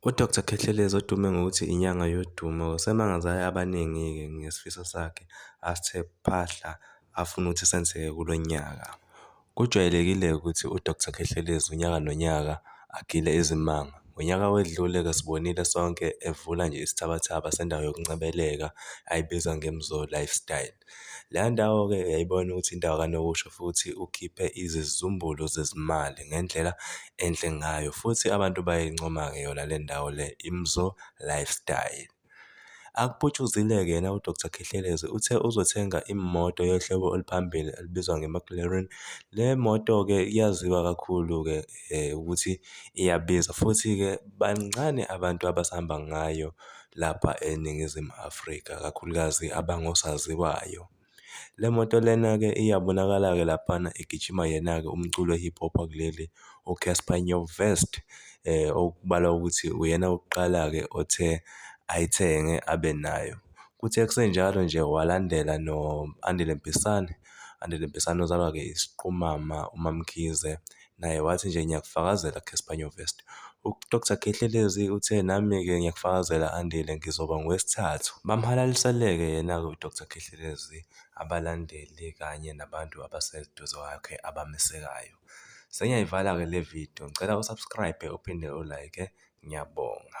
UDr Khehlelezi odume ngokuthi inyanga yodumo usemangaze abaningi-ke ngesifiso sakhe asithe phahla afuna ukuthi senzeke kulo nyaka. Kujwayelekile-ke ukuthi uDr Khehlelezi unyaka nonyaka agile izimanga. Ngonyaka owedlule-ke sibonile sonke evula nje isithabathaba sendawo yokuncebeleka ayibiza ngeMzoLifestyle. Leya ndawo-ke uyayibona ukuthi indawo kanokusho futhi ukhiphe izizumbulu zezimali ngendlela enhle ngayo futhi abantu bayayincoma-ke yona le ndawo le, iMzo Lifestyle. Akuputshuzile-ke yena uDr Khehlelezi uthe uzothenga imoto yohlobo oluphambili elibizwa ngeMcLaren. Le moto-ke iyaziwa kakhulu-ke ukuthi iyabiza futhi-ke bancane abantu abasahamba ngayo lapha eNingizimu Afrika, kakhulukazi abangosaziwayo. Le moto lena-ke iyabonakala-ke laphana igijima yena-ke umculo we-hip hop wakuleli uCassper Nyovest okubalwa ukuthi uyena wokuqala-ke othe ayithenge abe nayo. Kuthe kusenjalo nje walandela no-Andile Mpisane, u-Andile Mpisane ozalwa-ke isiqumama uMaMkhize, naye wathi nje ngiyakufakazela Caspanyo Vest. UDr Khehlelezi uthe nami-ke ngiyakufakazela Andile ngizoba ngowesithathu. Bamhalaliseleke yena-ke uDr Khehlelezi, abalandeli kanye nabantu abaseduze kwakhe abamesekayo. Sengiyayivala-ke le video, ngicela usubscribe uphinde ulike. Ngiyabonga.